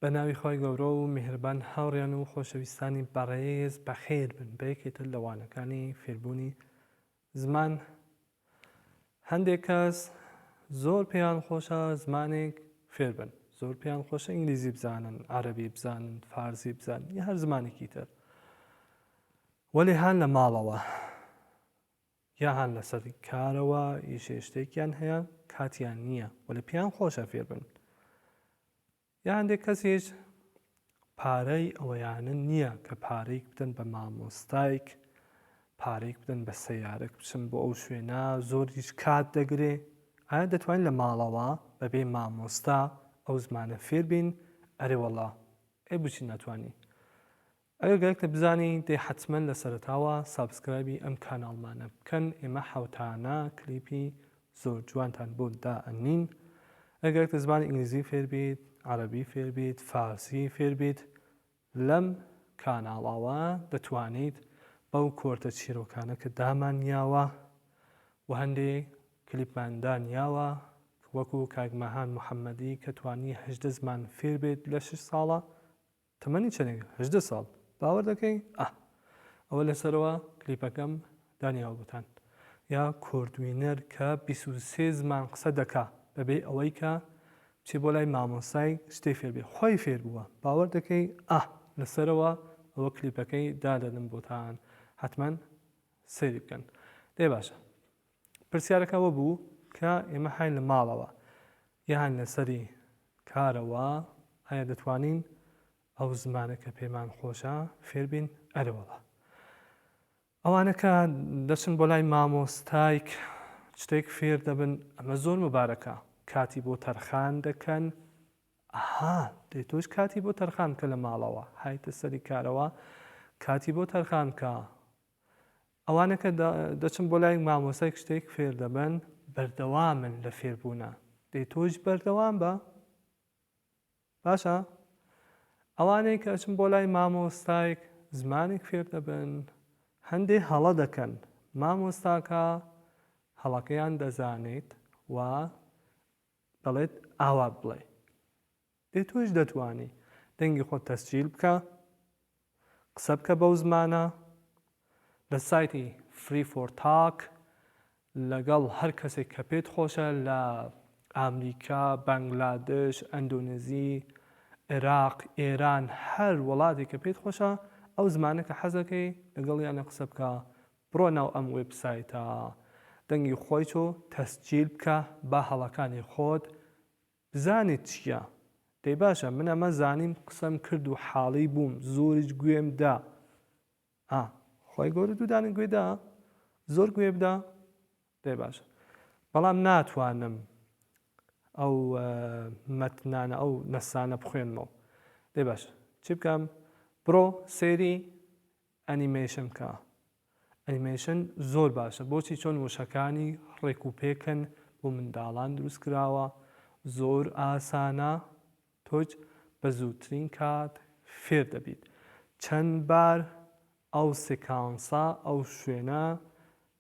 بە ناوی خوای گەورە و میهرەبان هاوڕیان و خۆشەویستانی بەڕێز بەخێر بن بە یەکێ تر لە وانەکانی فێربوونی زمان هەندێک کەس زۆر پێیان خۆشە زمانێک فێر بن زۆر پێیان خۆشە ئینگلیزی بزانن عەرەبی بزانن فارسی بزانن یا هەر زمانێکی تر وەلێ هان لە ماڵەوە یا هەر لەسەر کارەوە ئیشێ شتێکیان هەیە کاتیان نییە و لە پێیان خۆشە فێر بن یا هەندێک کەسیش پارەی ئەوەیانە نییە کە پارەیەک بدەن بە مامۆستایک پارەیەک بدەن بە سەیارەک بچن بۆ ئەو شوێنە زۆر هیچ کات دەگرێ ئایا دەتوانین لە ماڵەوە بەبێ مامۆستا ئەو زمانە فێربین ئەرێوەڵا ئەی بچین ناتوانین ئەگەر گەرەکتە بزانی دەی حەتمەن لە سەرەتاوە سابسکرایبی ئەم کاناڵمانە بکەن ئێمە حەوتانە کلیپی زۆر جوانتان بۆ دائەنین ئەگەر گەرەکتە زمانی ئینگلیزی فێربیت عەرەبی فێربیت فارسی فێربیت لەم کاناڵاوە دەتوانیت بەو کۆرتە چیرۆکانە کە دامانیاوە و هەندێ کلیپمان دانیاوە وەکو کاک مەهان محەمەدی کە توانی هەژدە زمان فێربێت لە شەش ساڵە تەمەنی چەنێک هەژدە ساڵ باوەر دەکەی ئاه. ئەوە لەسەرەوە کلیپەکەم دانی هەڵگوتان یا کوردوینەر کە بیست و سێ زمان قسە دەکا بەبێ ئەوەی کە بچێ بۆ لای مامۆستای شتێ فێر بێ خۆی فێر بووە باوەر دەکەی ئاه لەسەرەوە ئەوە کلیپەکەی دادەنم بۆتان حەتمەن سەیری بکەن دەی باشە. پرسیارەکە ئەوە بوو کە ئێمە هاین لە ماڵەوە یا هاین لە سەری کارەوە ئایا دەتوانین ئەو زمانە کە پێمان خۆشە فێربین ئەرەوەڵە ئەوانەکە دەچن بۆ لای مامۆستایک شتێک فێر دەبن ئەمە زۆر مبارەکە کاتی بۆ تەرخان دەکەن ئەها دێ تۆش کاتی بۆ تەرخان کە لە ماڵەوە هایتە سەری کارەوە کاتی بۆ تەرخان کە ئەوانە کە دەچن بۆ لای مامۆستایەک شتێک فێر دەبن بەردەوامن لە فێربوونە دەی تۆش بەردەوام بە باشە ئەوانەی کە ئەچن بۆ لای مامۆستایەک زمانێک فێر دەبن هەندێ هەڵە دەکەن مامۆستاکە هەڵەکەیان دەزانێت و دەڵێت ئاوا بڵێ ئێ تۆش دەتوانی دەنگی خۆت تەسجیل بکە قسە بکە بەو زمانە لە سایتی فری فۆر تاک لەگەڵ هەر کەسێک کە پێت خۆشە لە ئامریکا بەنگلادش ئەندۆنزی عێراق ئێران هەر وڵاتێک کە پێت خۆشە ئەو زمانە کە حەزەکەی لەگەڵیانە قسە بکە بڕۆ ناو ئەم وێبسایتە دەنگی خۆی تۆ تەسجیل بکە با هەڵەکانی خۆت بزانیت چیە دەی باشە من ئەمە زانیم قسەم کرد و حاڵی بووم زۆریش گوێم دا ئا خوای گەورە دوو دانە گوێ دا زۆر گوێ بدا دەی باشە بەڵام ناتوانم ئەو مەتنانە ئەو نەسانە بخوێنمەوە دەی باشە چی بکەم بڕۆ سێری ئەنیمەیشن بکە ئەنیمەیشن زۆر باشە بۆچی چۆن وشەکانی ڕێک و پێکن بۆ منداڵان دروست کراوە زۆر ئاسانە تۆج بە زووترین کات فێر دەبیت چەند بار ئەو سکانسە ئەو شوێنە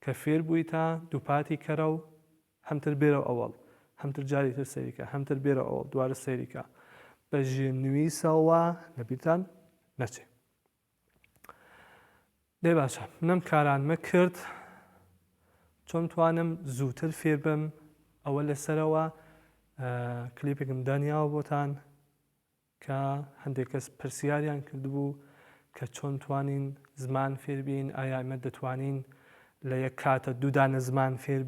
کە فێر بوویتە دووپاتی کەرە و هەمتر بێرەو ئەوەڵ هەمتر جاری تر سەیری کە هەمتر بێرە ئەوەڵ دوارە سەیری کە بە ژێر نویسەوە لە بیرتان نەچێ. دەی باشە نەم کارانمە کرد چۆن توانم زووتر فێربم ئەوە لەسەرەوە کلیپێکم دانیاوە بۆتان کە هەندێک کەس پرسیاریان کردبوو کە چۆن توانین زمان فێربین ئایا ئەمە دەتوانین لە یەک کاتە دوودانە زمان فێربین